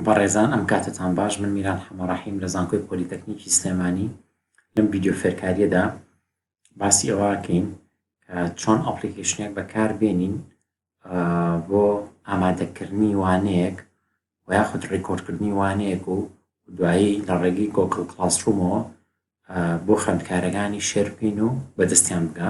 بەڕێزان ئەم کاتەتان باش من میران حەمە ڕەحیم لە زانکۆی پۆلیتەکنیکی سلێمانی لەم ڤیددیو فێرکاریەدا باسی ئەوەکەین چۆن ئەپلیکیشنێک بەکار بێنین بۆ ئامادەکردنی وانەیەک و یاخود ڕیکۆردکردنی وانەیەک و دوایی لە ڕێگەی گۆکل کلاسرومەوە بۆ خوێندکارەکانی شێرپین و بەدەستیان بگە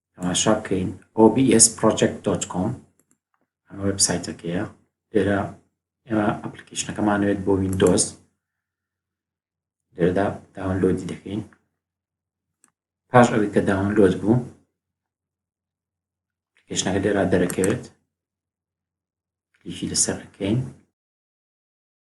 تەماشا بکەین obsproject دۆت کۆم ئەمە وێبسایتەکەیە لێرە ئێمە ئەپلیکیشنەکەمانوێت بۆ ویندۆز لێرەدا داونلۆدی دەکەین پاش ئەوی کە داونلۆد بوو ئپلیکیشنەکە لێرا دەرەکەوێت کلیکی لەسەر ئەکەین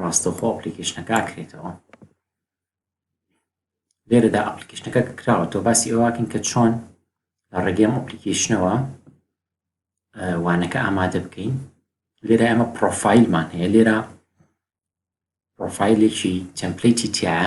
ڕاستەوخۆ ئەپلیکیشنەکە ئەکرێتەوە لێرەدا ئەپلیکیشنەکە کراوە تۆ باسی ئەوواکن کە چۆن لە ڕێگەم ئەپلیکیشنەوە وانەکە ئامادە بکەین لێرە ئەمە پرۆفایلمان هەیە لێرە پرۆفایلێکی تەمپلیتی تایە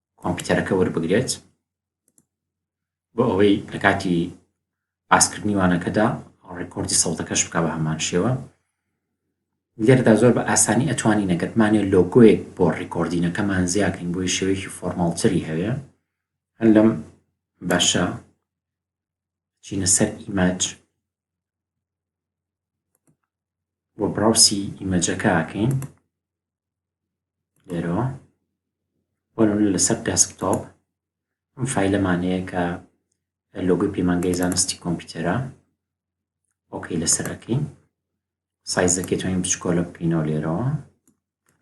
کۆمپیوتەرەکە وەربگرێت بۆ ئەوەی لە کاتی باسکردنی وانەکەدا ڕێکۆردی سەڵتەکەش بک بە هەمان شێوە لێردا زۆر بە ئاسانی ئەتوانی نەگەتمانێ لۆگۆیەک بۆ ڕیکۆردینەکەمان زیاکەین بۆی شێوەیەکی فۆرماڵتری هەوێ هەر لەم باشە چینە سەر ئیمەج بۆ براوسی ئیمەجەکەکەین لێرەوە بۆ نمونە لەسەر دەسکتۆپ ئەم فایلەمان هەیە کە لۆگوی پەیمانگەی زانستی کۆمپیوتەرە ئۆکەی لەسەر ئەکەین سایزەکەی توانین بچکۆلە بکەینەوە لێرەوە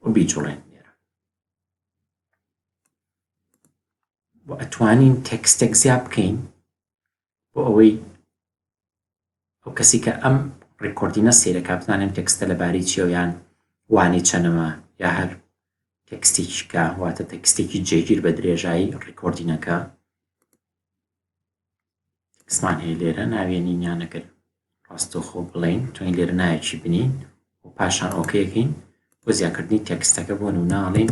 و بیجوڵێن لێرە ئەتوانین تەکستێک زیاد بکەین بۆ ئەوەی ئەو کەسی کە ئەم ڕیکۆردینە سەیرەکە بزانێم تێکستە لەبارەی چیە و یان وانەی چەنەمە یا هەر تێکستێکی کە واتە تێکستێکی جێگیر بە درێژایی ڕیکۆردینەکە قسمان هەیە لێرە ناوێنی نیانەکرد ڕاستەخۆ بڵین تۆین لێرە نایەکی بنین و پاشان ئۆکەکەین بۆ زیاکردنی تێکستەکە بۆ نووناڵین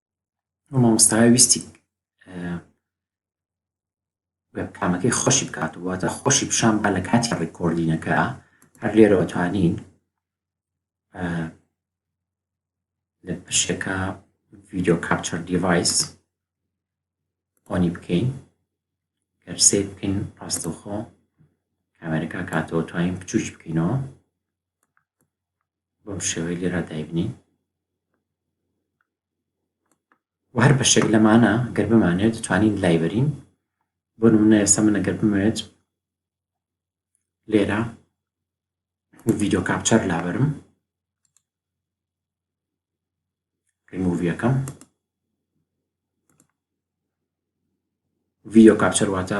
مامۆستا ویستی کامەکەی خۆشی بکات واتە خۆشی پیشان با لە کاتی ڕێکۆردینەکە هەر لێرەوە توانین لە پشەکە ڤیددیو کاپچەر دیڤایس ئۆنی بکەین گەرسێ بکەین ڕاستەوخۆ کامێرەکە کاتەوە توانین بچوش بکەینەوە بەم شێوەیە لێرا دایبنین و هەر بەشێک لەمانە گەر بمانێت توانین لایبەرین بۆ نمونە ئێستا من ئەگەر بمەوێت لێرە ڤیددیو کاپچەر لابرم ریموویەکەم ڤیددیو کاپچەر واتە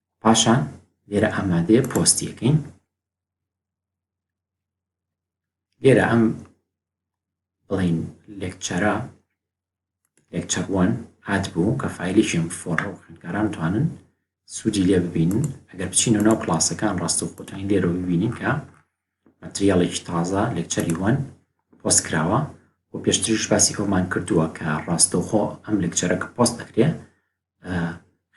پاشان لێرە ئامادەیە پۆستیەکەین لێرە ئەم بڵین لێکچەرە لێکچەروان ئات بوو کە فیلێکیم فۆڕە و خوێندکاران توانن سوودی لێ ببینن ئەگەر بچین و ناو کلاسەکان ڕاست و خۆتانی لێرە ببینین کە مەتریاڵێکی تازە لێکچەری وان پۆست کراوە و پێشتریش باسی ئەومان کردووە کە ڕاستەوخۆ ئەم لەکچەرە کە پۆست دەکرێ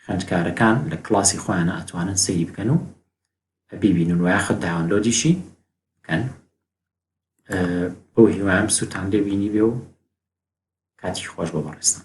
خوێندکارەکان لە کلاسی خۆیانە ئەتوانن سەیری بکەن و بیبینن وایاخە داونلۆدیشی بکەن بۆ هیوام سووتان لێ بینی بێ و کاتی خۆش بۆ بەڕێستان